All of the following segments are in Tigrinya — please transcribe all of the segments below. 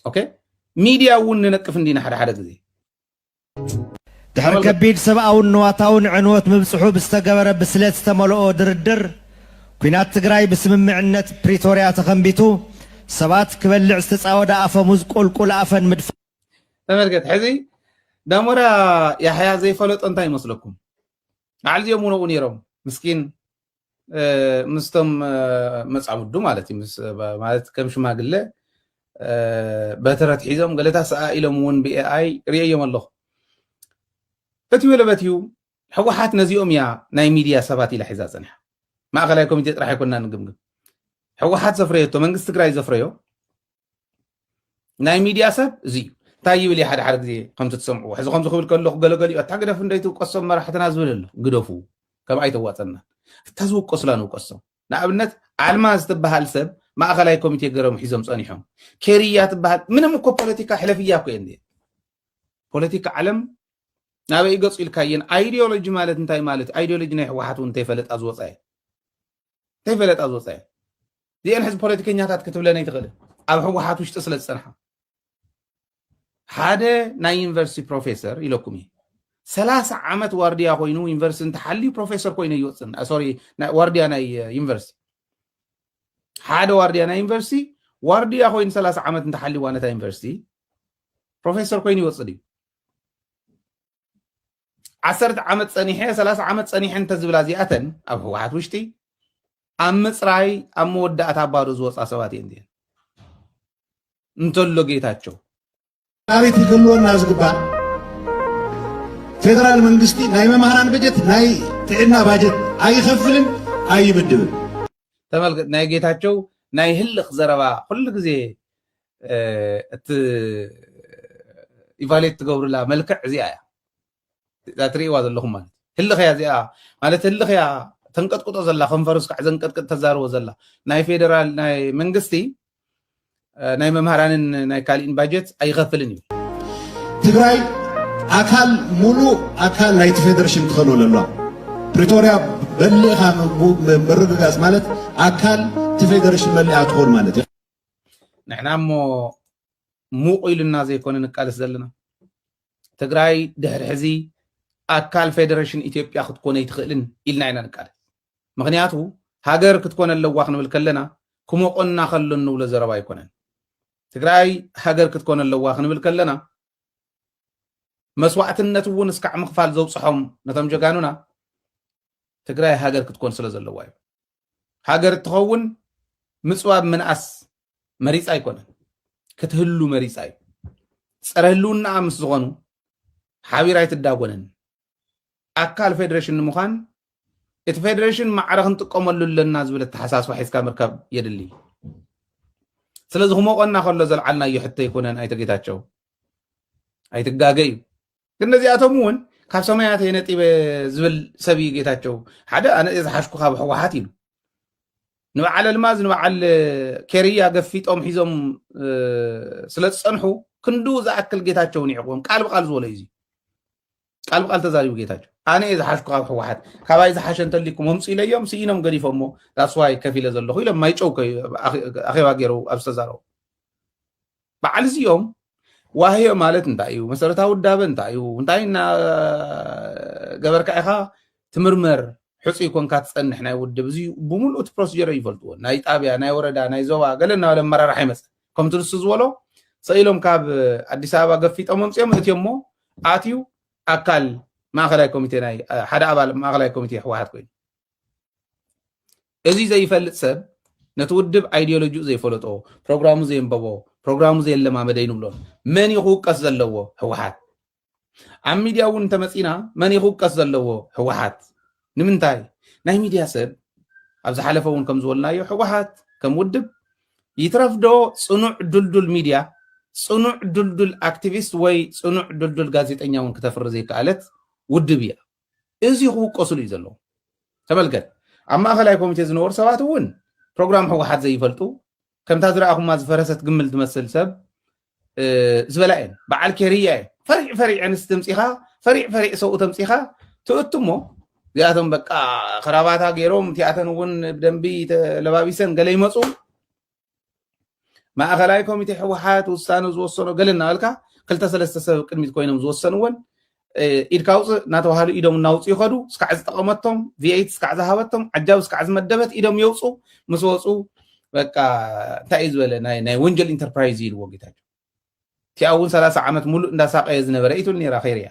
ኦኬ ሚድያ እውን ንነቅፍ እንዲና ሓደ ሓደ ግዜ ድሕሪ ከቢድ ሰብኣውን ንዋታውን ዕንወት ምብፅሑ ብዝተገበረ ብስለት ዝተመልኦ ድርድር ኲናት ትግራይ ብስምምዕነት ፕሪቶርያ ተኸንቢቱ ሰባት ክበልዕ ዝተፃወደ ኣፈሙዝ ቁልቁል ኣፈን ምድፋ ተመልከት ሕዚ ዳሞራ ያሕያ ዘይፈለጦ እንታይ ይመስለኩም ባዕል ዚኦም ውነኡ ነይሮም ምስኪን ምስቶም መፃውዱ ማለት እዩ ማለት ከም ሽማግለ በትረት ሒዞም ገለታት ሰኣ ኢሎም እውን ብኤኣይ ርእየዮም ኣለኹ እቲ ወለበት እዩ ሕወሓት ነዚኦም እያ ናይ ሚድያ ሰባት ኢላ ሒዛ ፀኒሓ ማእኸላይ ኮሚቴ ጥራሕ ኣይኮና ንግምግም ሕወሓት ዘፍረየቶ መንግስቲ ትግራይ ዘፍረዮ ናይ ሚድያ ሰብ እዚ እዩ እንታይ ይብል እዩ ሓደ ሓደ ግዜ ከምቲ ትሰምዕዎ ሕዚ ከምዚ ክብል ከለኹ ገለገሊኡ ኣታ ግደፍ እንደ ትውቀሶም መራሕትና ዝብል ኣሎ ግደፉ ከም ኣይተዋፀና እታ ዝውቀሱላ ንውቀሶም ንኣብነት ኣልማ ዝተበሃል ሰብ ማእኸላይ ኮሚቴ ገረሙ ሒዞም ፀኒሖም ኬርያ ትበሃል ምንም እኮ ፖለቲካ ሕለፍያ እኮ እየ ፖለቲካ ዓለም ናበይ ገፁ ኢልካየን ኣይዲዮሎጂ ማለት እንታይ ማለት እዩ ኣይዲዮሎጂ ናይ ህወሓት እውን እንተይፈለጣ ዝወፃ እዩ ከይፈለጣ ዝወፀያ እዚአን ሕዚ ፖለቲከኛታት ክትብለን ኣይትኽእልን ኣብ ህወሓት ውሽጢ ስለ ዝፀንሓ ሓደ ናይ ዩኒቨርሲቲ ፕሮፌሰር ኢለኩም እዩ ሰላሳ ዓመት ዋርድያ ኮይኑ ዩኒቨርሲቲ እንተሓልዩ ፕሮፌሰር ኮይኑ ይወፅን ሶሪ ዋርድያ ናይ ዩኒቨርሲቲ ሓደ ዋርድያ ናይ ዩኒቨርሲቲ ዋርድያ ኮይኑ ሰላሳ ዓመት እንተሓልዩዋ ነታ ዩኒቨርሲቲ ፕሮፌሰር ኮይኑ ይወፅእ እዩ ዓሰርተ ዓመት ፀኒሐ ሰላሳ ዓመት ፀኒሐ እንተዝብላ እዚኣተን ኣብ ህወሓት ውሽጢ ኣብ ምፅራይ ኣብ መወዳእታ ባዶ ዝወፃ ሰባት እየን እዚአን እንተሎ ጌታቸው ናበይ ክህልወና ዝግባእ ፌደራል መንግስቲ ናይ መምህራን በጀት ናይ ጥዕና ባጀት ኣይኸፍልን ኣይምድብን ተመልከት ናይ ጌታቸው ናይ ህልኽ ዘረባ ኩሉ ግዜ እቲ ኢቫሌት ትገብርላ መልክዕ እዚኣ እያ እዛ ትርእይዋ ዘለኹም ማለት ህልኽያ እዚኣ ማለት ህልኽያ ተንቀጥቅጦ ዘላ ከንፈርስ ካዕ ዘንቀጥቅጥ ተዛርቦ ዘላ ናይ ፌደራል ናይ መንግስቲ ናይ መምሃራንን ናይ ካሊእን ባጀት ኣይኸፍልን እዩ ትግራይ ኣካል ሙሉእ ኣካል ናይቲ ፌደሬሽን ትኸኑ ኣለዋ ፕሪቶርያ በሊእኻ ምርግጋፅ ማለት ኣካል እቲ ፌደሬሽን መሊኣ ትኾን ማለት እዩ ንሕና እሞ ሙቕ ኢሉና ዘይኮነ ንቃለስ ዘለና ትግራይ ድሕሪ ሕዚ ኣካል ፌደሬሽን ኢትዮጵያ ክትኮነ ኣይትኽእልን ኢልና ኢና ንቃለስ ምክንያቱ ሃገር ክትኮነ ኣለዋ ክንብል ከለና ክሞቆና ከሎ እንብሎ ዘረባ ኣይኮነን ትግራይ ሃገር ክትኮነ ኣለዋ ክንብል ከለና መስዋእትነት እውን እስካዕ ምኽፋል ዘውፅሖም ነቶም ጀጋኑና ትግራይ ሃገር ክትኮን ስለ ዘለዋ እዩ ሃገር እትኸውን ምፅዋብ ምንኣስ መሪፃ ኣይኮነን ክትህሉ መሪፃ እዩ ፀረ ህልውናኣ ምስ ዝኾኑ ሓቢራ ኣይትዳጎንን ኣካል ፌዴሬሽን ንምዃን እቲ ፌዴሬሽን ማዕረ ክንጥቀመሉ ኣለና ዝብል ኣተሓሳስባ ሒዝካ ምርካብ የድሊ ስለዚ ክሞቆና ከሎ ዘልዓልናዮ ሕቶ ኣይኮነን ኣይተ ጌታቸው ኣይትጋገ እዩ ግን ነዚኣቶም እውን ካብ ሰማያት እየ ነጢበ ዝብል ሰብ እዩ ጌታቸው ሓደ ኣነ እየ ዝሓሽኩ ካብ ህወሓት ኢሉ ንበዓል ኣልማዝ ንበዓል ኬርያ ገፊጦም ሒዞም ስለ ዝፀንሑ ክንዱ ዝኣክል ጌታቸው ንዕቕቦም ቃል ብቃል ዝበሎ እዩ ቃል ብቃል ተዛሪቡ ጌታቸው ኣነ እየ ዝሓሽኩ ካብ ህወሓት ካባይ ዝሓሸ እንተሊኩም ኣምፁ ኢለዮም ስኢኖም ገዲፎሞ ዳስዋይ ከፍ ኢለ ዘለኹ ኢሎም ማይጨው ኣኼባ ገይሩ ኣብ ዝተዛረቡ በዓል እዚኦም ዋህዮ ማለት እንታይ እዩ መሰረታዊ ውዳበ እንታይ እዩ እንታይ እና ገበርካ ኢኻ ትምርመር ሕፁይ ኮንካ ትፀንሕ ናይ ውድብ እዚ ብምሉእ እቲ ፕሮሲጀር ይፈልጥዎ ናይ ጣብያ ናይ ወረዳ ናይ ዞባ ገለ እናበለ ኣመራርሓ ይመፅእ ከምቲ ንሱ ዝበሎ ሰኢሎም ካብ ኣዲስ ኣበባ ገፊጦም ኣምፅኦም እትዮ እሞ ኣትዩ ኣካል ማእኸላይ ኮሚቴ ናይ ሓደ ኣባል ማእኸላይ ኮሚቴ ህወሓት ኮይኑ እዚ ዘይፈልጥ ሰብ ነቲ ውድብ ኣይዲዮሎጂኡ ዘይፈለጦ፣ ፕሮግራሙ ዘየንበቦ፣ ፕሮግራሙ ዘየለማመደ እዩ ንብሎም። መን እዩ ክውቀስ ዘለዎ? ህወሓት። ኣብ ሚድያ እውን እንተመፂና መን እዩ ክውቀስ ዘለዎ? ህወሓት። ንምንታይ? ናይ ሚድያ ሰብ ኣብ ዝሓለፈ እውን ከም ዝበልናዮ ህወሓት ከም ውድብ ይትረፍ ዶ ፅኑዕ ድልዱል ሚድያ ፅኑዕ ድልዱል ኣክቲቪስት ወይ ፅኑዕ ድልዱል ጋዜጠኛ እውን ክተፍሪ ዘይከኣለት ውድብ እያ። እዚ ክውቀሱሉ እዩ ዘለዎ ተመልከት ኣብ ማእኸላይ ኮሚቴ ዝነበሩ ሰባት እውን ፕሮግራም ህወሓት ዘይፈልጡ ከምታ ዝረኣኹማ ዝፈረሰት ግምል ትመስል ሰብ ዝበላ እየን በዓል ኬርያ እየን ፈሪዕ ፈሪዕ ኣንስቲ ተምፂኻ ፈሪዕ ፈሪዕ ሰብኡ ተምፂኻ ትእቱ እሞ እዚኣቶም በቃ ክራባታ ገይሮም እቲኣተን እውን ብደንቢ ተለባቢሰን ገለ ይመፁ ማእኸላይ ኮሚቴ ህወሓት ውሳነ ዝወሰኖ ገለ እናበልካ ክልተ ሰለስተ ሰብ ቅድሚት ኮይኖም ዝወሰንዎን ኢድካ ውፅእ እናተባሃሉ ኢዶም እናውፅኡ ይኸዱ ስካዕ ዝጠቐመቶም ቪኤት ስካዕ ዝሃበቶም ዓጃቢ ስካዕ ዝመደበት ኢዶም የውፁ ምስ ወፁ በቃ እንታይ እዩ ዝበለ ናይ ወንጀል ኢንተርፕራይዝ ኢልዎ ጌታቸው እቲኣ እውን ሰላሳ ዓመት ሙሉእ እንዳሳቀየ ዝነበረ ኢትብል ነራ ኸይርያ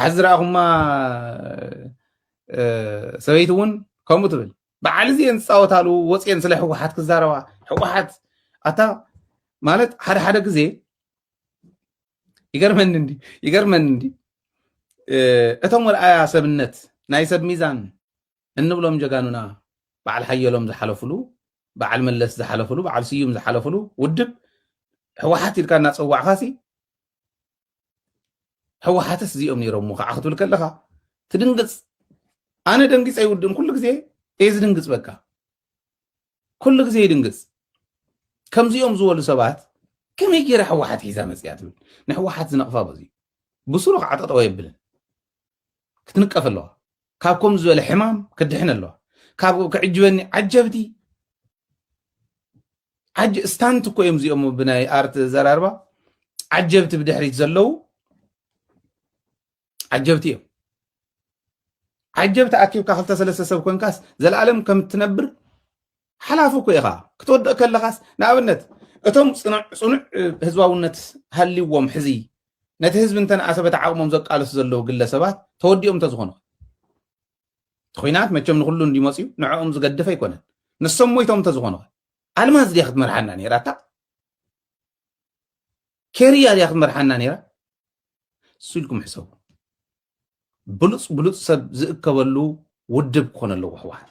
ሓዚ ዝረኣኹማ ሰበይቲ እውን ከምኡ ትብል በዓል እዚአን ዝፃወታሉ ወፅየን ስለ ህወሓት ክዛረባ ህወሓት ኣታ ማለት ሓደ ሓደ ግዜ ይገርመኒ እንዲ ይገርመኒ እንዲ እቶም ወልኣያ ሰብነት ናይ ሰብ ሚዛን እንብሎም ጀጋኑና በዓል ሓየሎም ዝሓለፍሉ በዓል መለስ ዝሓለፍሉ በዓል ስዩም ዝሓለፍሉ ውድብ ህወሓት ኢልካ እናፀዋዕካ ሲ ህወሓትስ እዚኦም ነይሮምዎ ከዓ ክትብል ከለኻ ትድንግፅ ኣነ ደንጊፀ ይውድእን ኩሉ ግዜ እየ ዝድንግፅ በቃ ኩሉ ግዜ ይድንግፅ ከምዚኦም ዝበሉ ሰባት ከመይ ገይራ ህወሓት ሒዛ መፅያ ትብል ንህወሓት ዝነቕፋ በዚ ብስሩ ከዓ ጠጠወ የብልን ክትንቀፍ ኣለዋ ካብ ከም ዝበለ ሕማም ክድሕን ኣለዋ ካብ ክዕጅበኒ ዓጀብቲ ዓጅ ስታንት እኮ እዮም እዚኦም ብናይ ኣርት ዘራርባ ዓጀብቲ ብድሕሪት ዘለው ዓጀብቲ እዮም ዓጀብቲ ኣኪብካ ክልተ ሰለስተ ሰብ ኮንካስ ዘለኣለም ከም እትነብር ሓላፊ እኮ ኢኻ ክትወድቕ ከለኻስ ንኣብነት እቶም ፅኑዕ ህዝባውነት ሃልዎም ሕዚ ነቲ ህዝቢ እንተነኣሰ በቲ ዓቕሞም ዘቃልሱ ዘለዉ ግለሰባት ተወዲኦም እንተዝኾኑ ኹናት መቸም ንኹሉ እንዲ መፅዩ ንዕኦም ዝገድፍ ኣይኮነን ንሶም ሞይቶም እንተዝኾኑ ኣልማዝ ድያ ክትመርሓና ነይራ እታ ኬርያ ድያ ክትመርሓና ነይራ እሱ ኢልኩም ሕሰቡ ብሉፅ ብሉፅ ሰብ ዝእከበሉ ውድብ ክኾነ ኣለዎ ህወሓት